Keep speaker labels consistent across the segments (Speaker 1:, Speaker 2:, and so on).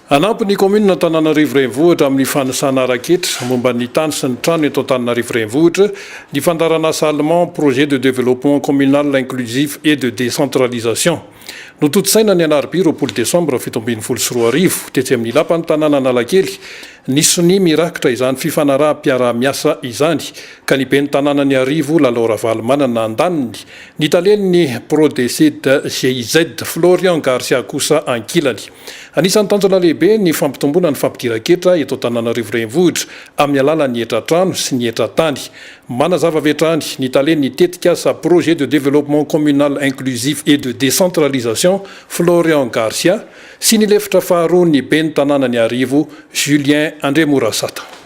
Speaker 1: Hanampy ny kaominina Antananarivo Renivohitra amin'ny fanisana ara-ketra momba ny tany sy ny trano eto Antananarivo Renivohitra ny fandaharanasa Allemand Projet de Développement Communal Inclusif et de Décentralisation. Notontosaina ny alarobia roapolo desambra fito ambin'ny folo sy roa arivo, tetsy amin'ny lapan'ny tanàna Analakely, ny sonia mirakitra izany fifanaraham-piaraha-miasa izany ka ny ben'ny tanànan'Iarivo, Lalao Ravalomanana andaniny, ny talen'ny Prodecid-GIZ, Florian Garcia kosa ankilany. Anisan'ny tanjona lehibe ny fampitomboana ny fampidiran-ketra eto Antananarivo Renivohitra amin'ny alalan'ny hetra trano sy ny hetra tany. Manazava avy hatrany ny talen'ny tetikasa Projet de Développement Communal Inclusif et de Décentralisation, Florian Garcia, sy ny lefitra faharoan'ny ben'ny tanànan'Iarivo, Julien Andriamorasata.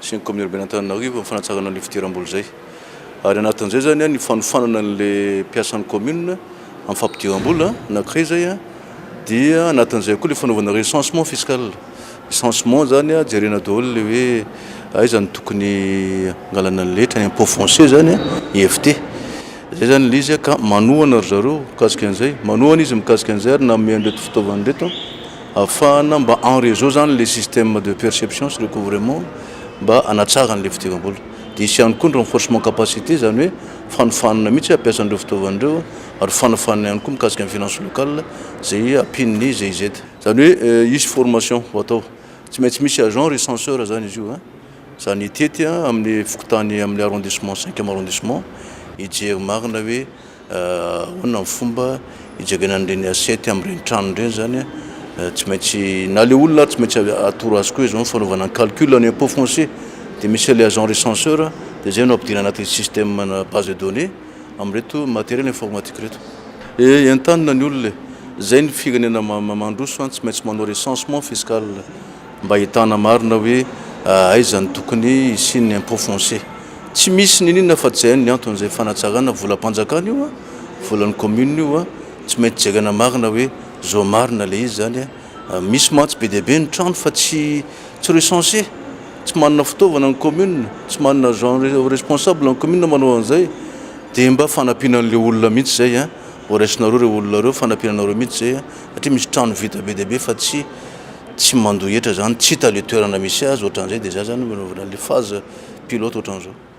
Speaker 2: sy ny kaomina urbaine
Speaker 3: Antananarivo amin'ny fanatsarana an'io fidiram-bola izay ary anatin'izay izany ny fanofanana an'ilay mpiasan'ny kaomina amin'ny fampidiram-bola anankiray izay dia anatin'izay koa ilay fanaovana recensement fiscal recensement izany jerena daholo ilay hoe aiza no tokony hangalana ny letra ny impôt foncier izany IFT izay izany ilay izy ka manohana ry zareo mikasika an'izay manohana izy mikasika an'izay ary nanome an'ireto fitaovana ireto Ahafahana mba en réseau zany ilay système de perception sy recouvrement mba hanatsarany ilay fidiram-bola. Dia hisy ihany koa ny renforcement capacité, izany hoe fanofanana mihitsy hampiasa an'ireo fitaovana ireo ary fanofanana ihany koa mikasika ny finance locale izay ampian'ny GIZ. Izany hoe hisy formation ho atao. Tsy maintsy misy agent recenseur izany izy io a. Izany hitety amin'ny fokontany amin'ny arrondissement, cinquième arrondissement, hijery marina hoe Ahoana ny fomba hijerena an'ireny assiette amin'ireny tranony ireny izany an? Tsy maintsy, na ilay olona ary tsy maintsy atoro azy koa izao ny fanaovana ny calcul ny impôt foncier. Dia misy ilay agent recenseur, dia izay no ampidirina anatin'ny système ana base de données amin'ireto matériel informatique ireto. Ee, entanina ny olona e! Izay ny firenena mandroso an, tsy maintsy manao recensement fiscal. mba ahitana marina hoe aiza no tokony hisian'ny impôt foncier. Tsy misy niniana fa tsy hay ny antony izay fanatsarana, volam-panjakana io an, volan'ny commune io an, tsy maintsy jerena marina hoe zao marina ilay izy zany an, misy mantsy be dia be ny trano fa tsy tsy recenser, tsy manana fitaovana ny commune, tsy manana agent responsable ny commune manao an'izay, dia mba fanampiana an'ilay olona mihitsy izay an, horaisina reo ireo olona ireo, fanampiana anareo mihitsy izay an. satria misy trano vita be dia be fa tsy tsy mandoa hetra zany, tsy hita le toerana misy azy, ohatran'izay, de zay zany no anaovana le phase pilote ohatran'izao.